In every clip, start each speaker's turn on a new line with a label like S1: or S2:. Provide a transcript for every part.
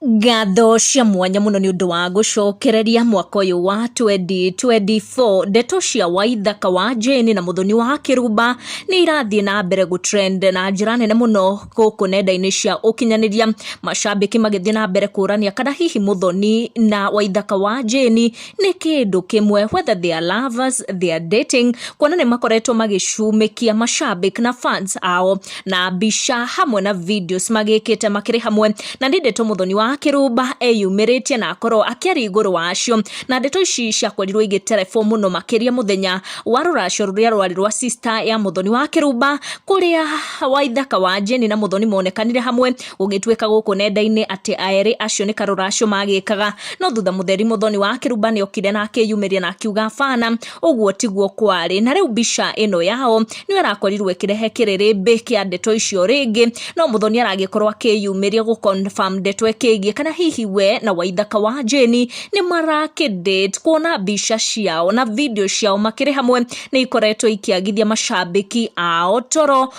S1: Ngatho cia mwanya mũno nĩ ũndũ wa gũcokereria mwaka ũyũ wa 2024. Ndeto cia Waithaka wa Jane na Mũthoni wa Kĩrumba nĩ irathiĩ na mbere gũ trend na njĩra nene mũno gũkũ nenda-inĩ cia ũkinyanĩria, macambĩki magĩthiĩ na mbere kũrania kana hihi Mũthoni na Waithaka wa Jane nĩ kĩndũ kĩmwe whether they are lovers they are dating kuona nĩ makoretwo magĩcumĩkia mashabik na fans ao na mbica hamwe na videos magĩkĩte makĩrĩ hamwe na nĩ ndeto mũthoni wa kĩrũmba eyumĩrĩtie na akorwo akĩaria igũrũ wacio na ndeto ici ciakorirwo igĩterebwo mũno makĩria mũthenya wa rũracio rũrĩa rwarĩ rwa sister ya mũthoni wa kĩrũmba kũrĩa waithaka wa jeni na mũthoni monekanire hamwe Gũgĩtuĩka gũkũ nenda-inĩ atĩ aerĩ acio nĩ karũracio magĩkaga, no thutha mũtheri mũthoni wa kĩruba nĩ okire na akĩyumĩria na akiuga bana, ũguo tiguo kwarĩ. Na rĩu mbica ĩno yao nĩyo ĩrakorirwo ĩkĩrehe kĩrĩrĩmbĩ kĩa ndeto icio rĩngĩ, no mũthoni aragĩkorwo akĩyumĩria gũ confirm ndeto ĩkĩgiĩ kana hihi we na waithaka wa Jane nĩ marakĩ date, kuona mbica ciao na video ciao makĩrĩ hamwe nĩ ikoretwo ikĩagithia macambĩki ao toro,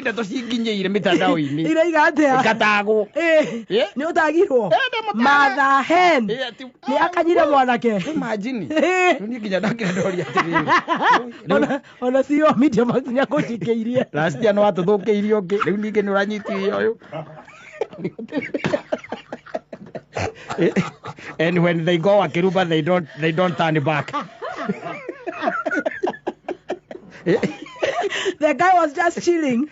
S2: ndeto
S3: cinginyĩire mĩtandao-inĩ iraiga atia
S2: ngatagwo Eh,
S3: Eh? nĩ
S2: ũtagirwo Eh, nĩ mũtagwo. matha hen Eh, ati- nĩ akanyire mwanake Imagine.
S3: Eh. Rĩu niĩ nginya ndakĩra ndoria atĩrĩrĩ Rĩu- Ona-
S2: ona cio media makinya kũnjingĩirie Rasiano watũthũkĩirie
S3: ũngĩ rĩu ningĩ nĩ ũranyitithia ũyũ and when they go akiruba they don't they don't turn back
S2: the guy was just chilling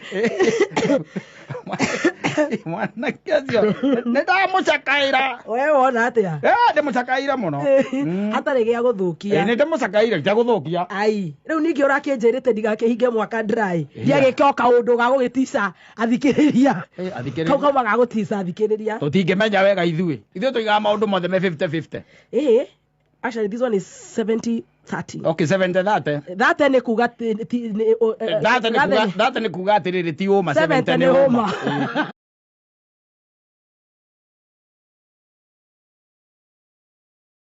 S3: mwanake acio nĩndamũcakaĩra wewe wona atia
S2: Eh, ndĩmũcakaĩra
S3: mũno Mm. hatarĩ gĩa Eh,
S2: gũthũkia nĩndĩmũcakaĩra
S3: ndagũthũkia ai rĩu ningĩ
S2: ũrakĩnjĩrĩte ndigakĩhinge mwaka ndrai ndiagĩka o kaũndũ ga gũgĩtica athikĩrĩria Eh, kau athikĩrĩria kauma gagũtica athikĩrĩria tũtingĩmenya wega ithuĩ
S3: ithuĩ tũigaga maũndũ mothe me 50-50 ĩĩ
S2: actually this one is 70 30 okay
S3: 70 thate that nĩ kuga ti-
S2: ti- nĩ- o- eh, thate nĩ that
S3: kuga- nĩ- thate nĩ kuga atĩrĩrĩ ti ũma 70 nĩ ũma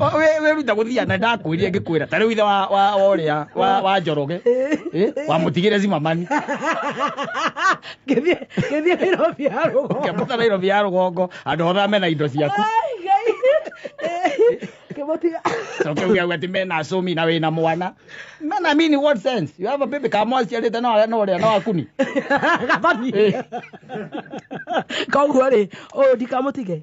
S3: O, we we ruta guthia na ndakwirire ngikwira ta riu ithe wa wa wa uria wa wa njoroge eh wa mutigire zimamani Ngĩthiĩ
S2: ngĩthiĩ Nairobi ya rũgongo. ngiambuta Nairobi ya rugongo
S3: andu othe mena indo ciaku Ai, Ngai.
S2: Ngĩmũtiga. coke uga ati
S3: mena acumi na wina mwana mena mean in what sense you have a baby kama aciarite na aria na uria na wakuni Gathoni. Eh.
S2: Koguo rĩ, ũyũ ndikamũtige.